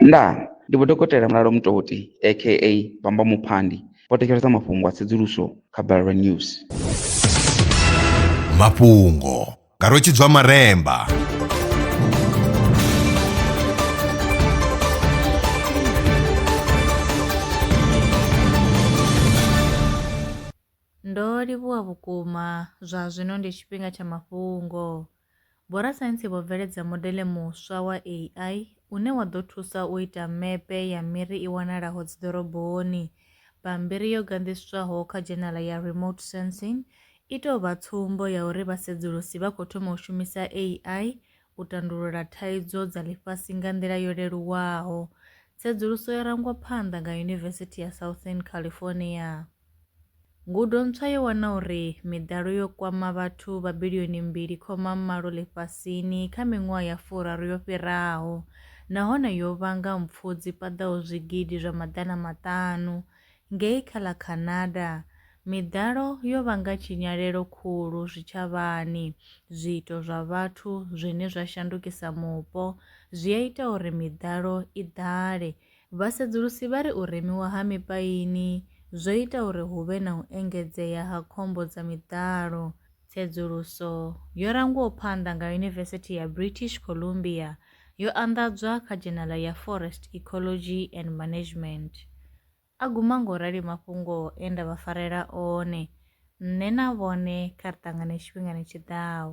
Ndaa! Ndi Vho Dokotela Mulalo Mutoti aka Bamba Muphandi vho thetshelesa mafhungo a tsedzuluso kha Balelwa News. Mafhungo nga Rwe Tshidzwa Maremba. Ndo livhuwa vhukuma. Zwa zwino ndi tshifhinga tsha mafhungo. Vhorasaintsi vho bveledza modele muswa wa AI une wa ḓo thusa u ita mepe ya miri i wanalaho dziḓoroboni. Bammbiri yo ganḓiswaho kha dzhenala ya Remote Sensing i tou vha tsumbo ya uri vhasedzulusi vha khou thoma u shumisa AI u tandulula thaidzo dza ḽifhasi nga nḓila yo leluwaho. Tsedzuluso yo rangwa phanḓa nga Yunivesithi ya Southern California. Ngudo ntswa yo wana uri miḓalo yo kwama vhathu vha bilioni mbili khoma malo ḽifhasini kha miṅwaha ya furaru yo fhiraho nahone yo vhanga mpfu dzi paḓaho zwigidi zwa maḓana maṱanu. Ngei kha ḽa Canada, miḓalo yo vhanga tshinyalelo khulu zwitshavhani, zwiito zwa vhathu zwine zwa shandukisa mupo zwi a ita uri miḓalo i ḓale Vhasedzulusi vha ri u remiwa ha mipaini zwo ita uri hu vhe na u engedzea ha khombo dza miḓalo. Tsedzuluso yo rangwaho phanḓa nga Yunivesithi ya British Columbia yo anḓadzwa kha dzhenala ya Forest Ecology and Management. A guma nga u rali mafhungo e nda vha farela one, nṋe na vhone kha ri ṱangane tshifhingani tshi ḓaho.